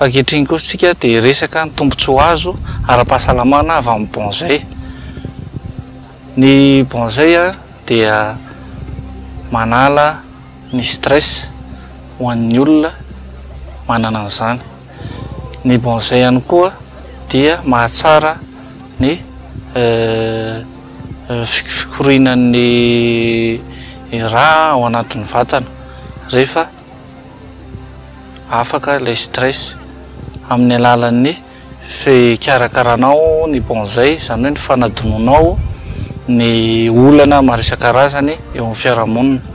Ankehitriny kosa isika dia hiresaka ny tombontsoa azo ara-pahasalamana avy amin'ny bonsai. Ny bonsai dia manala ny stress ho an'ny olona manana an'izany. Ny bonsai ihany koa dia mahatsara ny fikorianan'ny rà ao anatin'ny vatana rehefa. Afaka ilay stress amin'ny alalan'ny fikarakaranao ny bonzay, izany hoe ny fanadinoanao ny olana maro isan-karazany eo amin'ny fiarahamonina.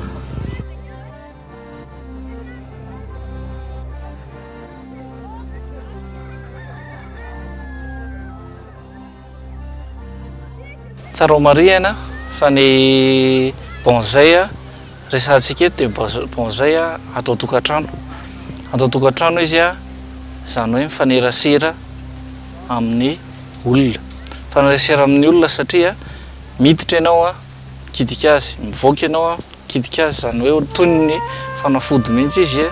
Tsara ho marihina fa ny bonsai resahantsika eto dia bonsai ato an-tokantrano. Ato an-tokantrano izy izany hoe mifanerasera amin'ny olona. Mifanerasera amin'ny olona satria miditra ianao mikitika azy, mivoaka ianao an, mikitika azy, izany hoe toy ny fanafody mihitsy izy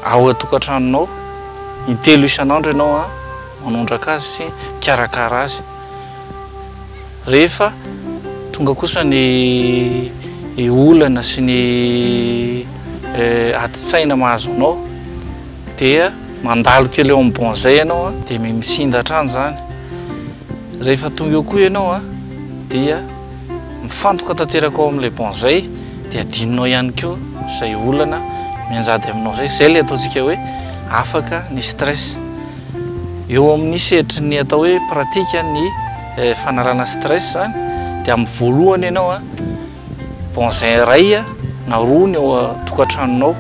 ao an-tokantranonao, intelo isan'andro ianao an, manondraka azy sy mikarakara azy, rehefa tonga kosa ny olana sy ny adin-tsaina mahazo anao dia mandalo kely eo amin'ny banc izay ianao dia misinda hatrany izany. rehefa tonga eo koa ianao a dia mifantoka tanteraka ao amin'ilay bon zay dia adinonao ihany koa izay olana mianjady aminao zay zay le ataontsika hoe afaka ny stress eo amin'ny sehatry ny atao hoe pratika ny eh, fanalana stress zany dia amin'ny voalohany ianao a bon zay iray a na roa ny eo tokantranonao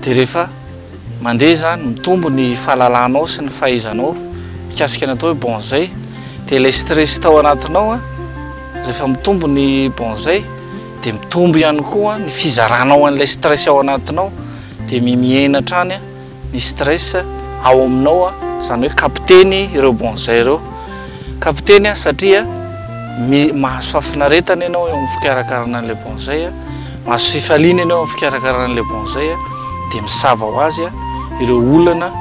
dia rehefa Mandeha izany, mitombo ny fahalalanao sy ny fahaizanao mikasika ny atao hoe bonzay. Dia ilay stress tao anatinao an, rehefa mitombo ny bonzay dia mitombo ihany koa ny fizaranao an'ilay stress ao anatinao. Dia mimihena hatrany ny stress ao aminao, izany hoe capter-ny ireo bonzay ireo. Kapiteny a, satria mi, mahazo fahafinaretana ianao eo amin'ny fikarakarana an'ilay bonsai a, mahazo fifaliana ianao eo amin'ny fikarakarana an'ilay bonsai a, dia misava ho azy a, ireo olana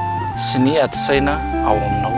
sy ny ati-tsaina ao aminao.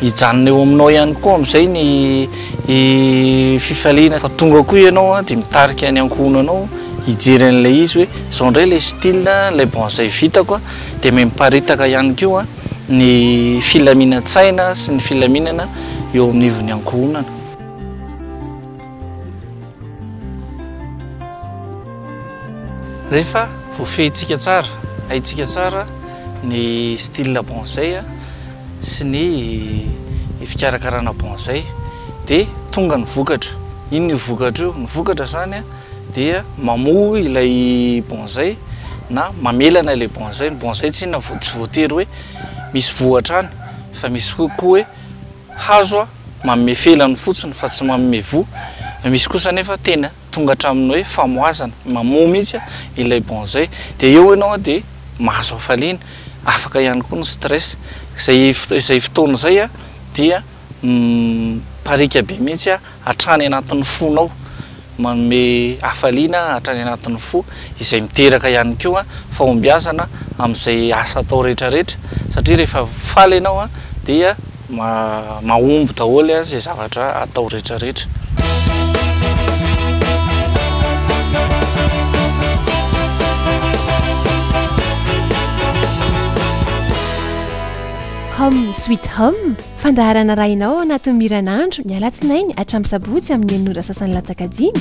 Hijanona eo aminao ihany koa amin'izay ny fifaliana fa tonga koa ianao a dia mitarika ny ankohonanao hijery an'ilay izy hoe izao indray ilay style ilay bonzay vitako a dia miparitaka ihany koa ny filaminan-tsaina sy ny filaminana eo amin'ivon'ny ankohonana. Rehefa voafehintsika tsara, haintsika tsara ny style bonsai sy ny fikarakarana bonsai dia tonga ny vokatra. Inona io vokatra io? Ny vokatra izany dia mamoa ilay bonsai na mamelana ilay bonsai. Ny bonsai tsy inona, tsy voatery hoe misy voa hatrany fa misy koa hoe hazo. manome felany fotsiny fa tsy manome voa, misy kosa anefa tena tonga hatramin'ny hoe famohazana, mamoha mihitsy ilay bonzay, dia eo ianao dia mahazo hafaliana, afaka ihany koa ny stress, izay izay fotoana izay dia mipariaka be mihitsy hatrany anatin'ny fonao. Manome hafaliana hatrany anatin'ny fo izay miteraka ihany koa fahombiazana amin'izay asa atao rehetra rehetra satria rehefa faly ianao dia mahomby daholo izay zavatra atao rehetra rehetra. Hum sweet hum Fandaharana arahinao ao anatin'ny Miran'Andro ny alatsinainy hatramin'ny sabotsy amin'ny enina ora sasany latsaka dimy.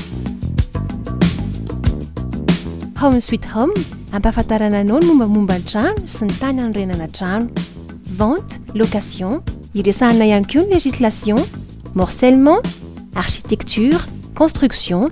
Home Sweet Home, ampahafantarana anao ny mombamomba ny trano sy ny tany anorenana trano. Vente, location, iresahana ihany koa ny législation, morcellement, architecture, construction,